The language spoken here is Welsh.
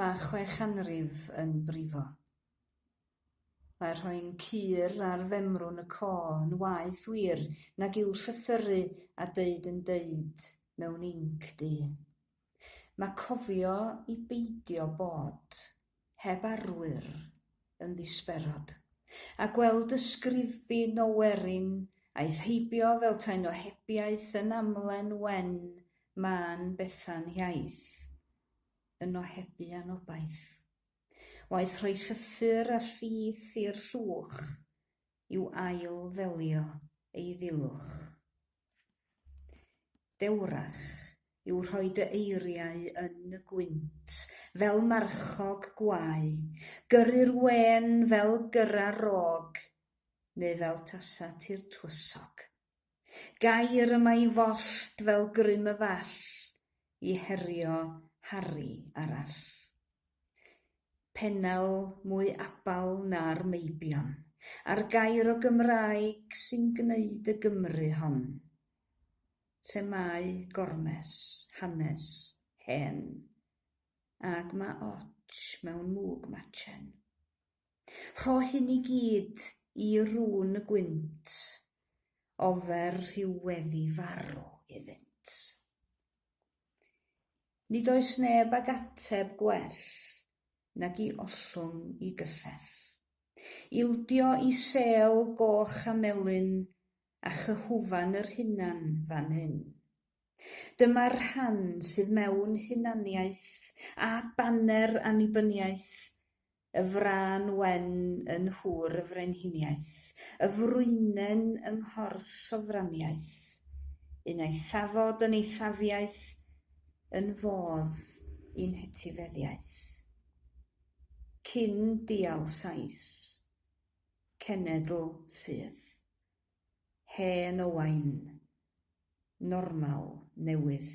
Mae chwe chanrif yn brifo. Mae rhoi'n cur ar femrwn y co yn waeth wir nag yw llythyru a deud yn deud mewn inc du. Mae cofio i beidio bod heb arwyr, yn ddisberod, a gweld ysgrifbyn o werin aeth heibio fel taen o hebiaeth yn amlen wen mân Bethan Hiaith, yn ohebu anobaith. Waeth rhoi llythyr a llith i'r llwch yw ail-ddelio ei ddilwch. Dewrach yw rhoi dy eiriau yn y gwynt fel marchog gwae, gyrru'r wên fel gyrra'r rog, neu fel tasa ti'r twysog. Gair y mae i follt fel grym y fall, i herio Harri arall. Pennel mwy abal na'r meibion, a'r gair o Gymraeg sy'n gneud y Gymru hon, lle mae gormes, hanes, hen, ag mae otsh mewn mwg machen. Rho hyn i gyd i run y gwynt, ofer rhyw weddi farw iddynt. Nid oes neb ag ateb gwell nag i ollwng i gyllell. Ildio i sêl goch a melyn a chyhwfan yr hunan fan hyn. Dyma'r rhan sydd mewn hunaniaeth a baner annibyniaeth Y frân wen yn nhŵr y frenhiniaeth, y frwynen yng nghors sofraniaeth, un eithafod yn eithafiaeth, yn fodd i'n hetifeddiaeth. Cyn dial Sais, cenedl sydd. Hen Owain, normal newydd.